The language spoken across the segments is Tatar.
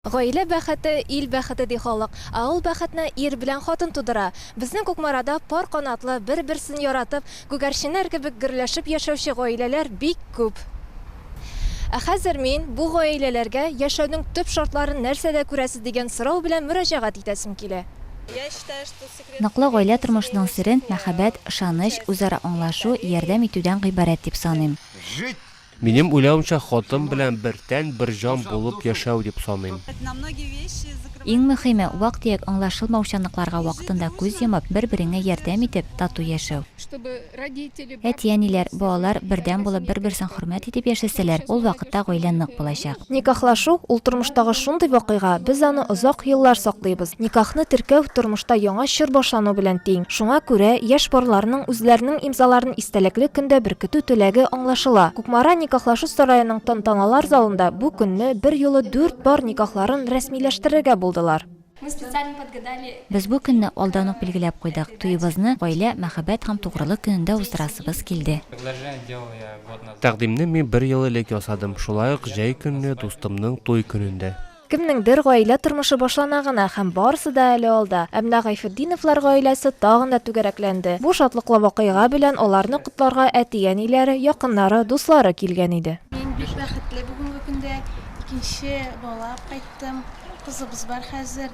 Гаилә бәхете, ил бәхете, ди халык. Ә ул бәхетне ир белән хатын тудыра. Безнең Кукмарада пар канатлы, бер-берсен яратып, күгәрченнәр кебек гөрләшеп яшәүче гаиләләр бик күп. Ә хәзер мин бу гаиләләргә яшәүнең төп шартларын нәрсәдә күрәсез дигән сорау белән мөрәҗәгать итәсем килә. Ныклы гаилә тормышының сере мәхәббәт, ышаныч, үзара аңлашу, ярдәм итүдән гыйбарәт дип саныйм. Минем уйлавымча, хатын белән бер тән, бер җан булып яшәү дип саныйм. Иң мөхиме, вак-төяк аңлашылмаучанлыкларга вакытында күз йомып, бер-береңә ярдәм итеп, тату яшәү. Әти-әниләр, балалар бердәм булып, бер-берсен хөрмәт итеп яшәсәләр, ул вакытта гаилә нык булачак. Никахлашу, ул тормыштагы шундый вакыйга, без аны озак еллар саклыйбыз. Никахны теркәү, тормышта яңа чор башлану белән тиң. Шуңа күрә, яшь парларның үзләренең имзаларын истәлекле көндә беркетү теләге аңлашыла. Кукмара никахлашу сараеның тантаналар залында бу көнне берьюлы дүрт пар никахларын рәсмиләштерергә булдылар. Без бу көнне алдан ук билгеләп куйдык, туебызны гаилә, мәхәббәт һәм тугрылык көнендә уздырасыбыз килде. Тәкъдимне мин бер ел элек ясадым, шулай ук җәй көнне, дустымның туй көнендә. Кемнеңдер гаилә тормышы башлана гына һәм барысы да әле алда. Ә менә Гайфетдиновлар гаиләсе тагын да түгәрәкләнде. Бу шатлыклы вакыйга белән аларны котларга әти-әниләре, якыннары, дуслары килгән иде. Мин бик бәхетле, бүгенге көндә икенче бала кайтты. кайттым. Кызыбыз бар хәзер.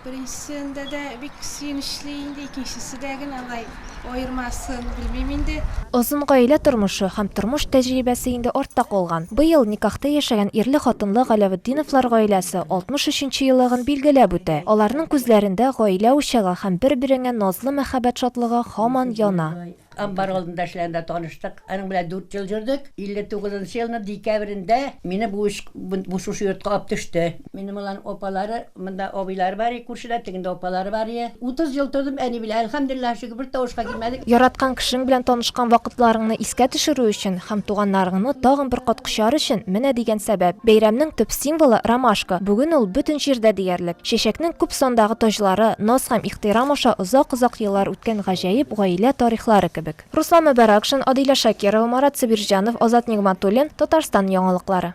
Беренчесендә дә бик сөенечле инде, икенчесе дә генә алай аермасын, белмим инде. Озын гаилә тормышы һәм тормыш тәҗрибәсе инде артта калган. Быел никахта яшәгән ирле-хатынлы Галәветдиновлар гаиләсе 63 нче еллыгын билгеләп үтә. Аларның күзләрендә гаилә учагы һәм бер-береңә назлы мәхәббәт шатлыгы һаман яна. Амбар алдында эшләгәндә таныштык. Аның белән дүрт ел йөрдек. 59 нчы елның декабрендә мине бу эш, бу шушы йортка алып төште. Минем аларның апалары, монда абыйлары бар иде күршедә, тегендә апалары бар иде. Утыз ел тордым әни белән, әлхәмдулиллаһ шөкер, бер тавышка килмәдек. Яраткан кешең белән танышкан вакытларыңны искә төшерү өчен һәм туганнарыңны тагын бер кат кочар өчен менә дигән сәбәп. Бәйрәмнең төп символы, ромашка. Бүген ул бөтен җирдә диярлек. Чәчәкнең күп сандагы таҗлары, наз һәм ихтирам аша озак-озак еллар Көн гаҗәеп гаилә тарихлары кебек. Руслан Мөбәракшин, Адилә Шакирова, Марат Сабирҗанов, Азат Нигъматуллин, Татарстан яңалыклары.